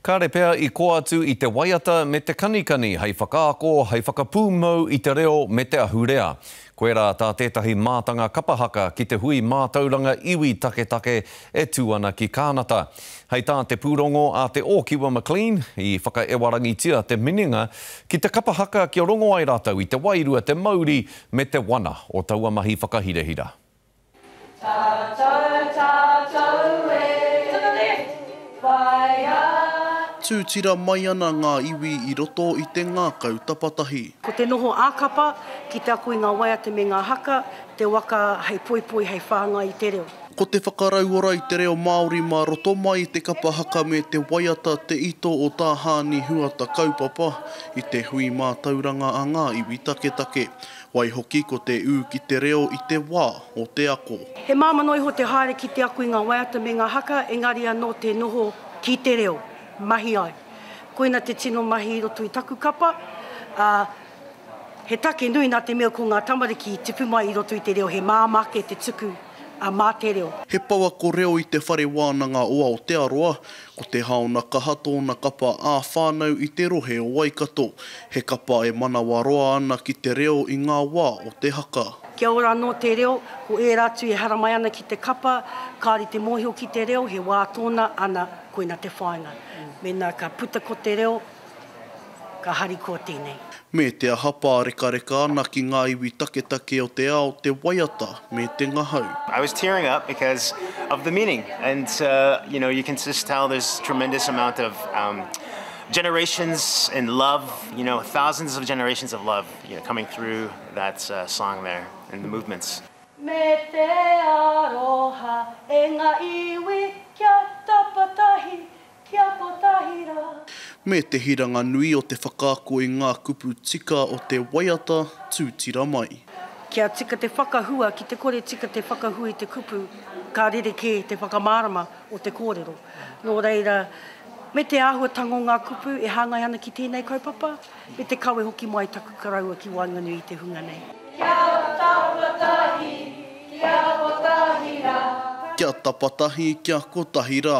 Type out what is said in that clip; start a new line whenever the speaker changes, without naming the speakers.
Kāre pea i koa atu i te waiata me te kanikani hei whakaako, hei whakapūmau i te reo me te ahurea. Koirā tā tētahi mātanga kapa haka ki te hui mātauranga iwi taketake e tū ana ki Kānata. Hei tā te pūrongo a Te Ōkiwa McLean, i whakaewarangitia te minenga ki te kapa haka kia rongo ai rātou i te wairua, te mauri me te wana o taua mahi whakahirahira.
Tūtira mai ana ngā iwi i roto i te ngākau tapatahi. Ko te noho
ā-kapa ki te ako i ngā waiata me ngā haka, te waka hei poipoi, hei whāngai i te reo. Ko te whakarauora
i te reo Māori mā roto mai i te kapa haka me te waiata te ito o tā Hāni Huata kaupapa i te hui mātauranga a ngā iwi taketake. Waihoki ko te ū ki te reo i te wā o te ako. He māmā noa iho te
haere ki te ako i ngā waiata me ngā haka, engari anō te noho ki te reo, mahi ai. Koina te tino mahi i roto i taku kapa, ā, he take nui nā te mea ko ngā tamariki i tipu mai i roto i te reo, he māmā ake te tuku. a Mā Te Reo. He pouako reo
i Te Whare Wānanga o Aotearoa, ko Te Haona Kaha tōna kapa ā-whānau i te rohe o Waikato. He kapa e manawaroa ana ki te reo i ngā wā o te haka. Kia ora anō te
reo, ko ērā atu e haramai ana ki te kapa, kāore te mōhio ki te reo, he wā tōna, ana, koina te whāinga. Mēnā ka puta ko te reo, Ka harikoa tēnei. Me te aha
pārekareka ana ki ngā iwi taketake o te ao te waiata me te ngahau. I was tearing up
because of the meaning and you know you can just tell there's tremendous amount of um generations and love you know thousands of generations of love you know coming through that song there and the movements. Me te
aroha e ngā iwi kia tapatahi Kia kotahi ra. Me te
hiranga nui o te whakaako i ngā kupu tika o te waiata, tūtira mai. Kia tika
te whakahua, ki te kore tika te whakahua i te kupu, ka rerekē te whakamārama o te kōrero. Nō reira, me te āhuatanga o ngā kupu e hāngai ana ki tēnei kaupapa, me te kawe hoki mai taku karaua ki waenganui i te hunga nei. Kia tapatahi, kia kotahi ra. Kia
tapatahi, kia kotahi ra.